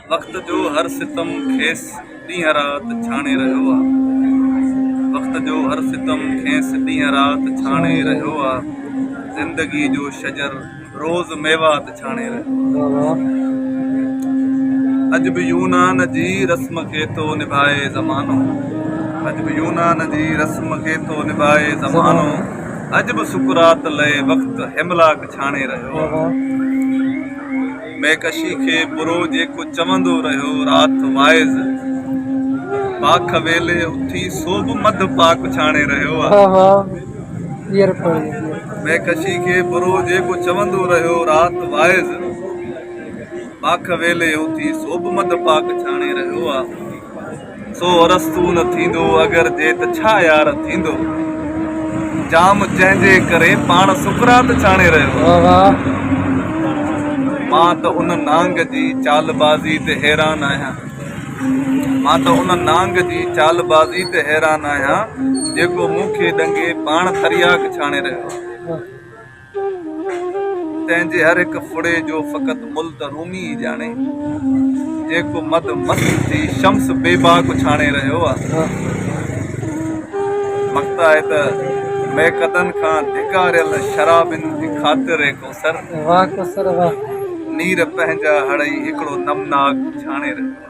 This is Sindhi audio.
وقت جو هر ستم کيس ڏينهن رات ڇاڻي رهيو آ وقت جو هر ستم کيس ڏينهن رات ڇاڻي رهيو آ زندگي جو شجر روز ميوات ڇاڻي رهيو آ اڄ به يونان جي رسم کي ٿو نڀائي زمانو اڄ به يونان جي رسم کي ٿو نڀائي زمانو اڄ به سقراط لئي وقت هيملاڪ ڇاڻي رهيو آ. ميڪشي کي برو جيڪو چوندو رهيو رات واعظ پاک ويلي اٿي سو به مڌ پاڪ ڇاڻي رهيو ميڪشي کي برو جيڪو چوندو رهيو رات واعظ پاک ويلي اٿي سو به مڌ پاڪ ڇاڻي رهيو سو ارسطو نه ٿيندو اگر جي ته ڇا يار ٿيندو جام جنهن جي ڪري پاڻ سقراط ڇاڻي رهيو مان ته ان نانگ جي چال بازي تي حيران آهيان مان ته ان نانگ جي چال بازي تي حيران آهيان جيڪو مون کي ڏنگي پاڻ ترياق ڇاڻي رهيو آهي. تنهن جي هر هڪ ڦڙي جو فقط مل ته رومي ئي ڄاڻي، جيڪو مد مست ٿي شمس بي باڪ اڇاڻي رهيو آهي. مقطع آهي ته، ميقدن کان ڌڪاريل شرابين جي خاطر اي ڪوثر، نير پنهنجا هڙئي هڪڙو نمناڪ اڇاڻي رهيو آهي.